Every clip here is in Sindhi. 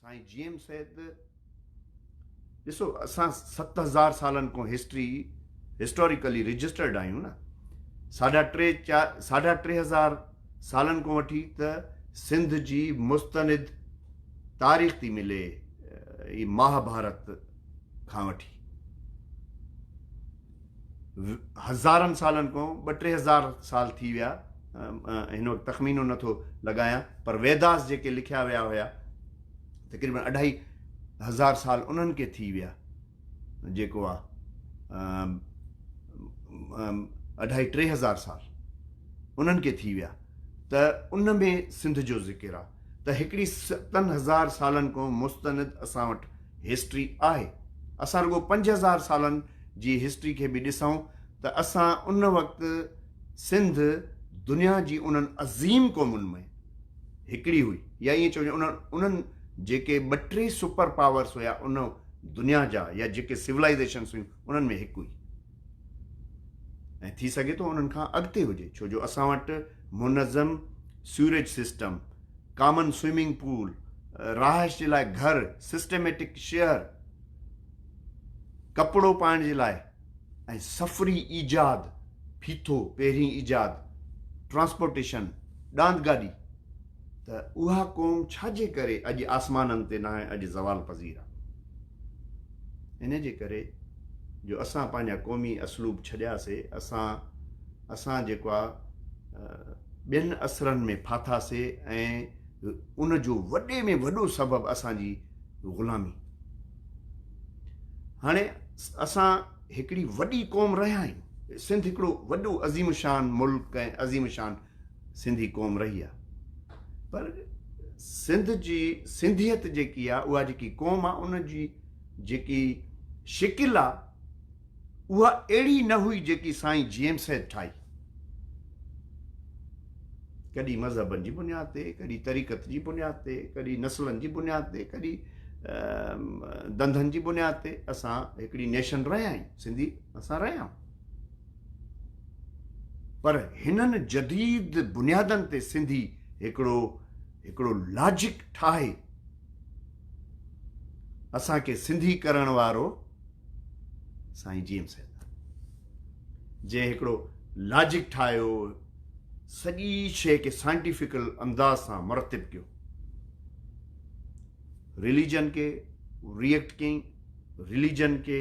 سائين جي ايم سيد ڏسو اسان ست هزار سالن کان هسٽري هسٽوريڪلي رجسٽرڊ آهيون نه ساڍا ٽي چار ساڍا ٽي هزار سالن کان وٺي ته سنڌ جي مستند تاريخ ٿي ملي مهاڀارت کان وٺي هزارن سالن کان ٻه ٽي هزار سال ٿي ويا هن وقت تخمينو نه ٿو لڳايان پر ويداس جيڪي لکيا ويا هيا تقريبن اڍائي هزار سال انهن کي ٿي ويا جيڪو آ اڍائي ٽي هزار سال انهن کي ٿي ويا ته ان ۾ سنڌ جو ذڪر آ ته هڪڙي ستن هزار سالن کان مستند اسان وٽ هسٽري آهي. اسان رڳو پنج هزار سالن جي هسٽري کي به ڏسون ته اسان ان وقت سنڌ دنيا جي انهن عظيم قومن ۾ هڪڙي هئي يا ائين چئجي انهن انهن جيڪي ٻه ٽي سپر پاورس هيا ان دنيا جا يا جيڪي سولائيزيشنس هيون انهن ۾ هڪ هئي. ۽ ٿي سگهي ٿو انهن کان اڳتي هجي ڇو جو اسان وٽ منظم sewerage system common swimming pool رهائش جي لاء گهر سسٽميٽڪ شهر ڪپڙو پائڻ جي لاء ۽ سفري ايجاد ڦيٿو پهرين ايجاد ٽرانسپورٽيشن ڏاند گاڏي ته اها قوم ڇاجي ڪري اڄ آسمانن تي ناهي اڄ زوال پذير آهي ان جي ڪري جو اسان پنهنجا قومي اسلوب ڇڏيا سي اسان اسان جيڪو آ ٻين اثرن ۾ ڦاٿا سي ۽ ان جو وڏي ۾ وڏو سبب اسان جي غلامي هاڻي اسان هڪڙي وڏي قوم رهيا آهيون سنڌ هڪڙو وڏو عظيم شان ملڪ ۽ عظيم شان سنڌي قوم رهي آ پر سنڌ جي سنڌيت جيڪي آ اها جيڪي قوم آ ان جي جيڪي شڪل آ اها اهڙي نه هئي جيڪي سائين جي ايم سيد ٺاهي ڪڏي مذهبن جي بنياد تي ڪڏي طريقت جي بنياد تي ڪڏي نسلن جي بنياد تي ڪڏي دنڌن جي بنياد تي اسان هڪڙي نيشن رهيا آهيون سنڌي اسان رهيا آهيون پر هنن جديد بنيادن تي سنڌي هڪڙو هڪڙو لاجڪ ٺاهي اسان کي سنڌي ڪرڻ وارو سائين جي ايم سيد جنهن هڪڙو لاجڪ ٺاهيو سڄي شيء کي سائنٽيفڪل انداز سان مرتب ڪيو ريليجن کي ريئڪٽ ڪيئي ريليجن کي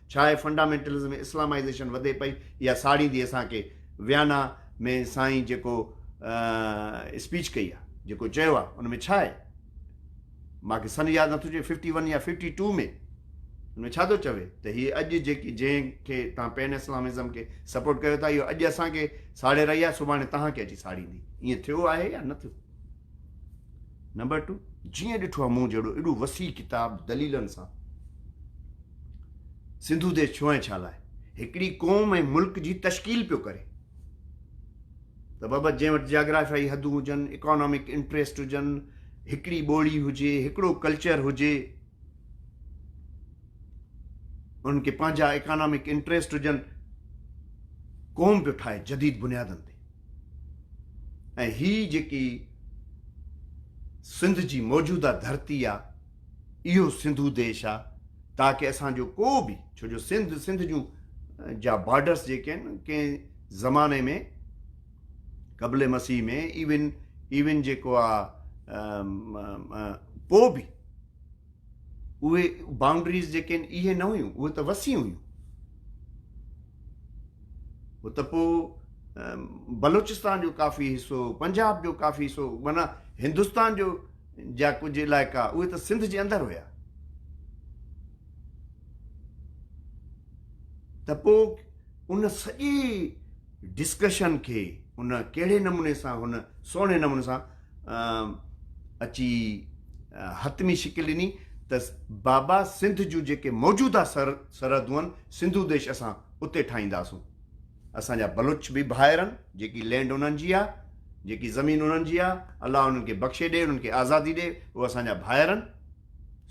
ڇا اهي فنڊامينٽلزم اسلامائيزيشن وڌي پئي اها ساڙيندي اسان کي ويانا ۾ سائين جيڪو اسپيچ ڪئي آ جيڪو چيو آ ان ۾ ڇا آهي مان کي سن ياد نٿو چئي ففٽي ون يا ففٽي ٽو ۾ ان ۾ ڇا ٿو چوي ته هي اڄ جيڪي جنهن کي تان پين اسلامزم کي سپورٽ ڪيو ٿا اهو اڄ اسان کي ساڙي رهي آ سڀاڻي تهان کي اچي ساڙيندي ائين ٿيو آهي يا نه ٿيو نمبر ٽو، جيئن ڏٺو آهي مون جهڙو ايڏو وسيع ڪتاب دليلن سان سنڌو ديس ڇو ۽ ڇا لاء هڪڙي قوم ۽ ملڪ جي تشڪيل پيو ڪري ته بابت جنهن وٽ جاگرافيائي حدون هجن اڪانامڪ انٽريسٽ هجن هڪڙي ٻولي هجي هڪڙو ڪلچر هجي انهن کي پنهنجا اڪانامڪ انٽريسٽ هجن قوم پيو ٺاهي جديد بنيادن تي ۽ هي جيڪي سنڌ جي موجوده ڌرتي آ اهو سنڌو ديش آ تاڪه اسان جو ڪو به ڇو جو سنڌ سنڌ جون جا بارڊرس جيڪي آهن ڪنهن زماني ۾ قبل مسيح ۾ ايون ايون جيڪو آ ڪو به اهي بائونڊريز جيڪي آهن اهي نه هيون اهي ته وسيع هيون هو ته پوء بلوچستان جو ڪافي حصو پنجاب جو ڪافي حصو مانا هندستان جو جا ڪجهه علائقا اهي ته سنڌ جي اندر هيا ته پوء ان سڄي ڊسڪشن کي ان ڪهڙي نموني سان هن سهڻي نموني سان اچي حتمي شڪل ڏني ته بابا سنڌ جون جيڪي موجوده سرحدون آهن سنڌو ديش اسان اتي ٺاهينداسون اسان جا بلوچ به ڀائر آهن جيڪي لينڊ انهن جي آهي جيڪي زمين انهن جي آهي الله انهن کي بخشي ڏي انهن کي آزادي ڏي اهو اسان جا ڀائر آهن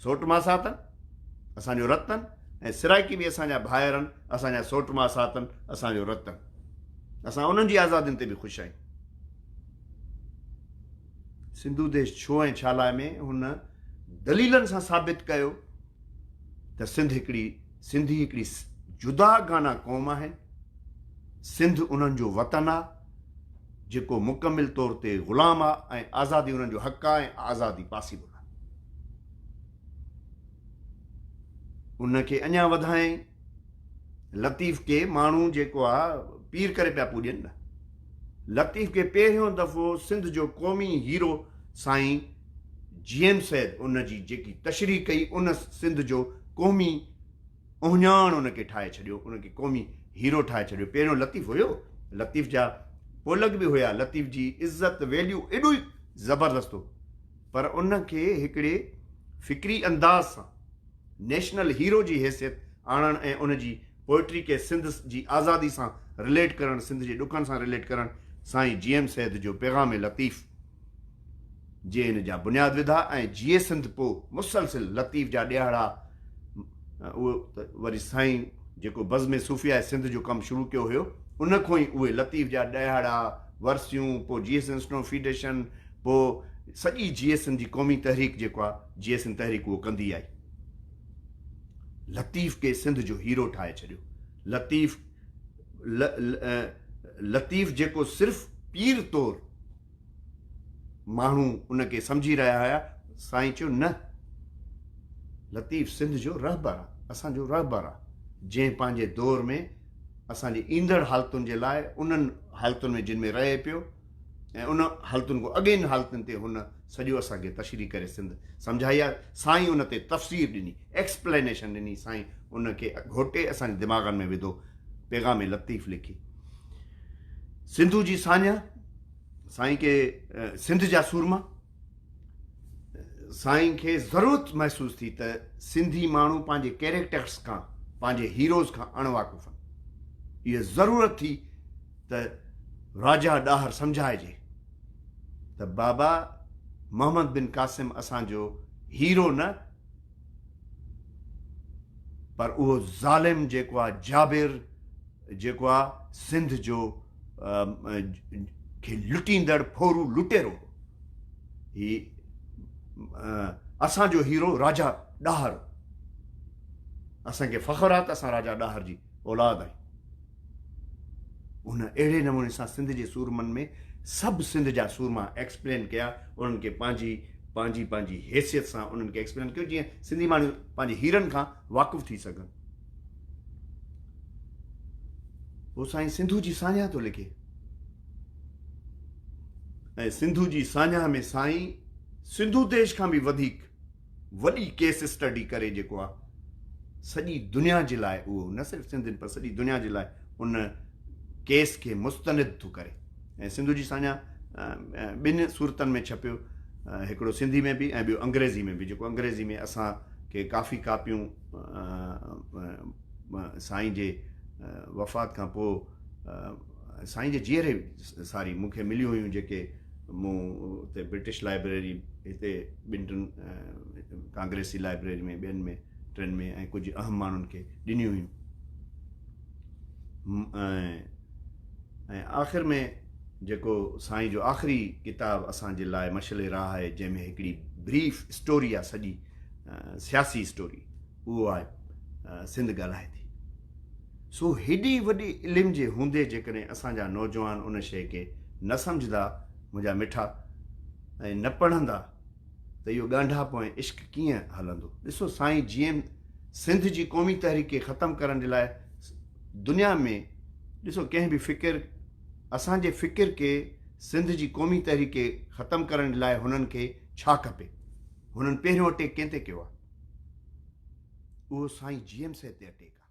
سوٽ ماسات آهن اسان جو رت آهن ۽ سرائيڪي به اسان جا ڀائر آهن اسان جا سوٽ ماسات آهن اسان جو رت آهن اسان انهن جي آزادين تي به خوش آهيون سنڌو ديش ڇو ۽ ڇا لاء ۾ هن دليلن سان ثابت ڪيو ته سنڌ هڪڙي سنڌي هڪڙي جدا گانا قوم آهن سنڌ انهن جو وطن آ جيڪو مڪمل طور تي غلام آ ۽ آزادي انهن جو حق آ ۽ آزادي پاسيبل آ. ان کي اڃا وڌائين لطيف کي ماڻهو جيڪو آ پير ڪري پيا پوڄين نه لطيف کي پهريون دفعو سنڌ جو قومي هيرو سائين جي ايم سيد ان جي جيڪي تشريح ڪئي ان سنڌ جو قومي اهڃاڻ ان کي ٺاهي ڇڏيو ان کي قومي هيرو ٺاهي ڇڏيو پهريون لطيف هيو لطيف جا پولڳ به هيا لطيف جي عزت ويليو ايڏو ئي زبردست هو پر ان کي هڪڙي فڪري انداز سان نيشنل هيرو جي حيثيت آڻڻ ۽ ان جي پوئٽري کي سنڌ جي آزادي سان رليٽ ڪرڻ، سنڌ جي ڏکن سان رليٽ ڪرڻ سائين جي ايم سيد جو پيغام لطيف جي ان جا بنياد وڌا ۽ جيئي سنڌ پوء مسلسل لطيف جا ڏيهاڙا اهو ته وري سائين جيڪو بزم صوفياء سنڌ جو ڪم شروع ڪيو هيو ان کون ئي اهي لطيف جا ڏيهاڙا ورسيون پوء جيئي سنسنو فيڊيشن پوء سڄي جي ايس اين جي قومي تحريڪ جيڪو آ جي ايس اين تحريڪ اهو ڪندي آئي. لطيف کي سنڌ جو هيرو ٺاهي ڇڏيو. لطيف ل ل لطيف جيڪو صرف پير طور ماڻهو ان کي سمجهي رهيا هيا سائين چيو نه لطيف سنڌ جو رهبر آ اسان جو رهبر آ جنهن پنهنجي دور ۾ اسان جي ايندڙ حالتن جي لاء انهن حالتن ۾ جن ۾ رهي پيو ۽ ان حالتن کان اڳين حالتن تي هن سڄو اسان کي تشريح ڪري سنڌ سمجهائي آهي سائين ان تي تفسير ڏني ايڪسپلينيشن ڏني سائين ان کي گهوٽي اسان جي دماغن ۾ وڌو پيغام لطيف لکي سنڌو جي ساڃاهه سائين کي سنڌ جا سورما سائين کي ضرورت محسوس ٿي ته سنڌي ماڻهو پنهنجي ڪيريڪٽرس کان پنهنجي هيروز کان اڻ واقف آهن اها ضرورت ٿي ته راجا ڏاهر سمجهائجي ته بابا محمد بن قاسم اسان جو هيرو نه پر اهو ظالم جيڪو آهي جابر جيڪو آهي سنڌ جو کي لٽيندڙ ڦورو لٽيرو هو. هي اسان جو هيرو راجا ڏاهر هو. اسان کي فخر آهي ته اسان راجا ڏاهر جي اولاد آهيون. هن اهڙي نموني سان سنڌ جي سورمن ۾ سڀ سنڌ جا سورما ايڪسپلين ڪيا. انهن کي پنهنجي پنهنجي پنهنجي حيثيت سان انهن کي ايڪسپلين ڪيو جيئن سنڌي ماڻهو پنهنجي هيرن کان واقف ٿي سگهن. هو سائين سنڌو جي ساڃاهه ٿو لکي ۽ سنڌو جي ساڃاهه ۾ سائين سنڌو ديش کان به وڌيڪ وڏي ڪيس اسٽڊي ڪري جيڪو آهي سڄي دنيا جي لاء اهو نه صرف سنڌين پر سڄي دنيا جي لاء ان ڪيس کي مستند ٿو ڪري ۽ سنڌو جي ساڃاهه ٻن صورتن ۾ ڇپيو، هڪڙو سنڌي ۾ به ۽ ٻيو انگريزي ۾ به، جيڪو انگريزي ۾ اسان کي ڪافي ڪاپيون سائين جي وفات کان پوء سائين جي جيئري ساري مون کي مليون هيون، جيڪي مون اتي برٽش لائبريري، هتي ٻن ٽن ڪانگريسي لائبريري ۾ ٻين ۾ ٽن ۾ ۽ ڪجهه اهم ماڻهن کي ڏنيون هيون. ۽ آخر ۾ جيڪو سائين جو آخري ڪتاب اسان جي لاء مشعل راهه آهي جنهن ۾ هڪڙي بريف اسٽوري آهي سڄي سياسي اسٽوري اهو آهي سنڌ ڳالهائي ٿي سو هيڏي وڏي علم جي هوندي جيڪڏهن اسان جا نوجوان ان شيء کي نه سمجهندا منهنجا مٺا ۽ نه پڙهندا ته اهو ڳانڍاپو ۽ عشق ڪيئن هلندو. ڏسو سائين جيئن سنڌ جي قومي تحريڪ کي ختم ڪرڻ جي لاء دنيا ۾ ڏسو ڪنهن به فڪر اسان جي فڪر کي سنڌ جي قومي تحريڪ کي ختم ڪرڻ جي لاء هنن کي ڇا کپي هنن پهريون اٽيڪ ڪنهن تي ڪيو آهي اهو سائين جيئن سي تي اٽيڪ آهي.